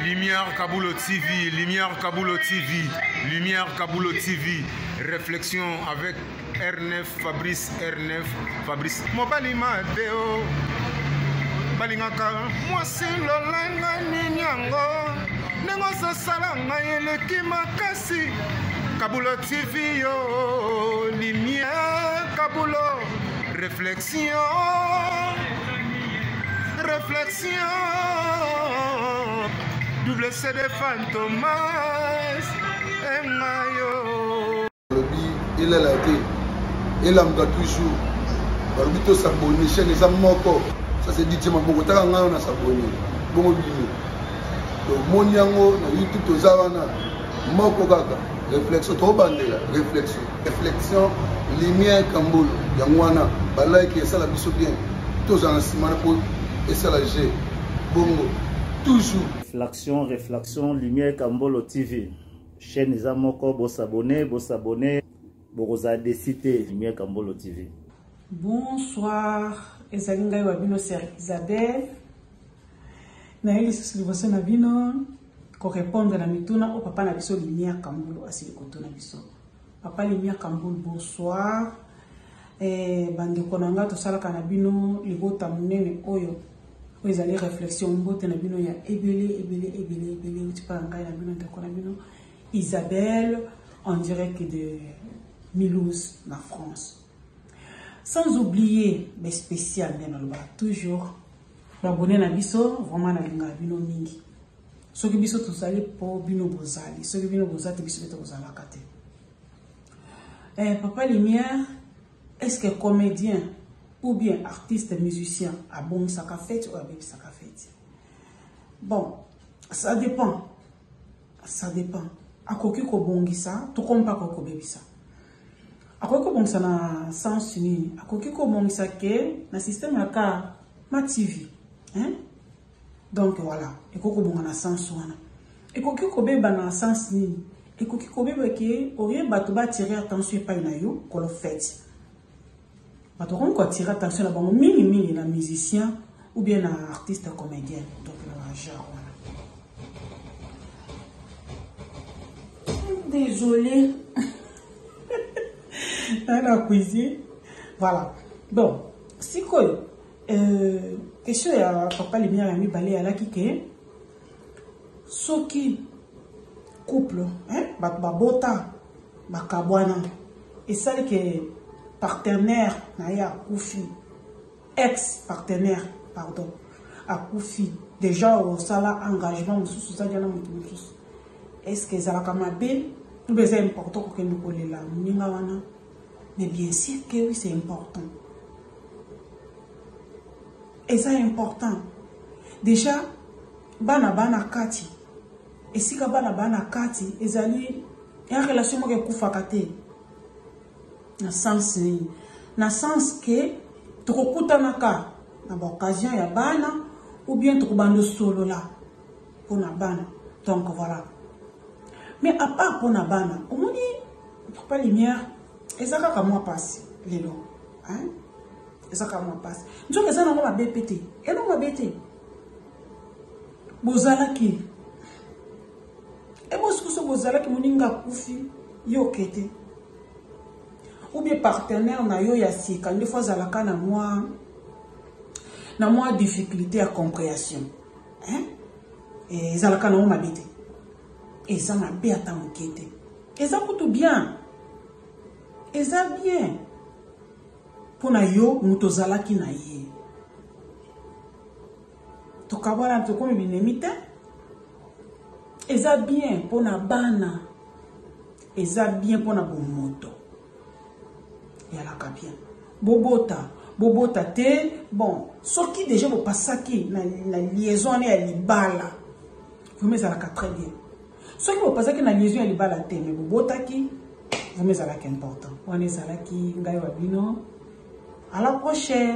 Lumière Kabulo TV, Lumière Kabulo TV, Lumière Kabulo TV, réflexion avec R9, Fabrice R9, Fabrice. Mobali Mateo, balingaka mwasi lolanga nini yango ndenge ozosala ngai eleki makasi Kabulo TV yo, Lumière Kabulo, réflexion. Réflexion, double CD Fantomas, et Mayo. Il est là, il est là, toujours. balobi tosabone chaine eza moko ça c'est dit ma boko taka ngai na sabone bongo bino tomoni yango na youtube toza wana moko kaka réflexion tobandela réflexion reflexion lumière kambolo yango wana balike esala biso bien tozala na nsima na po esala je bongo toujours reflexion reflexion lumière kambolo tv chaîne eza moko bosabone bosabone bokozala desi te lumière kambolo tv bonsoir ezali ngai wa bino ser isabelle naye lisusu liboso na bino korepondre na mituna oyo papa na biso lumière kambolo asili kotuna biso Papa Limia Kambul, bonsoir. Eh, bandeko na nga tosalaka na bino libota monene oyo oyo ezali réflexion mbote na bino ya ebele ebele ebele ebele euti mpa na ngai na bino ndeko na bino isabelle en direct de milouse na france sans oublier mais spécial nde naloba toujours babone na biso vraiment nalingaka bino mingi soki biso tozali mpo bino bozali soki bino boza te biso mpe tokozalaka te eh, papa lumière est ce que comédien ou bien artiste musicien abongisaka fete oyo abebisaka fete bon ça dépend ça dépend akoki kobongisa to komi mpe akoki kobebisa akoki kobongisa na sens nini akoki kobongisa ke na systeme ya ka ma tv hein? Donc voilà, ekoki kobonga na sens wana. Ekoki kobeba na sens nini? Ekoki kobeba ke oye bato ba tirer attention epai na yo kolo fete. Bato bakomi ko tirer attention na bango mingi mingi na musicien ou bien na artiste comédien. Donc na ba genre wana. Désolée. Elle a cuisiné. Voilà. Donc, si quoi Euh, question ya papa lumière ya mibale alaki ke soki couple hein, bato babota bakabwana esali ke partenaire na ye akufi ex partenaire pardon akufi déjà osala engagement mosusu ozalaki na moto mosusu est ce que ezalaka mabe obe eza important kokende kolela moninga wana Mais bien sûr que oui, c'est important. Et ça est important. Déjà, bana bana kati. Et si bana bana kati, ils allaient une relation qui kufa kate. Na sens ni. Na sens que trop kutanaka na occasion ya bana ou bien trop bando solo là. pona bana donc voilà mais à part pona bana omoni papa lumière eza kaka mwa pasi lelo hein eza kaka mwa pasi nzoka eza nango mabe pe te elo mabe te bozalaki ebosikoso bozalaki moninga akufi yo oke te ou bien partenaire na yo ya sika nde fo azalaka na mwa na mwa difficulté ya compréhension hein eh, ezalaka nango mabe te eza mabe ata moke te eza kutu bien eza bien mpo na yo moto ozalaki na ye tokabwana tokomi binemi te eza bien mpo na bana eza bien mpo na bomoto yalaka bien bobota bobota te bon soki déjà bopasaki na, na liaison wana ya libala vraimen ezalaka très bien soki bopasaki na liaison ya libala te me bobotaki vraimen ezalaka important wana ezalaki ngai wa bino à la prochaine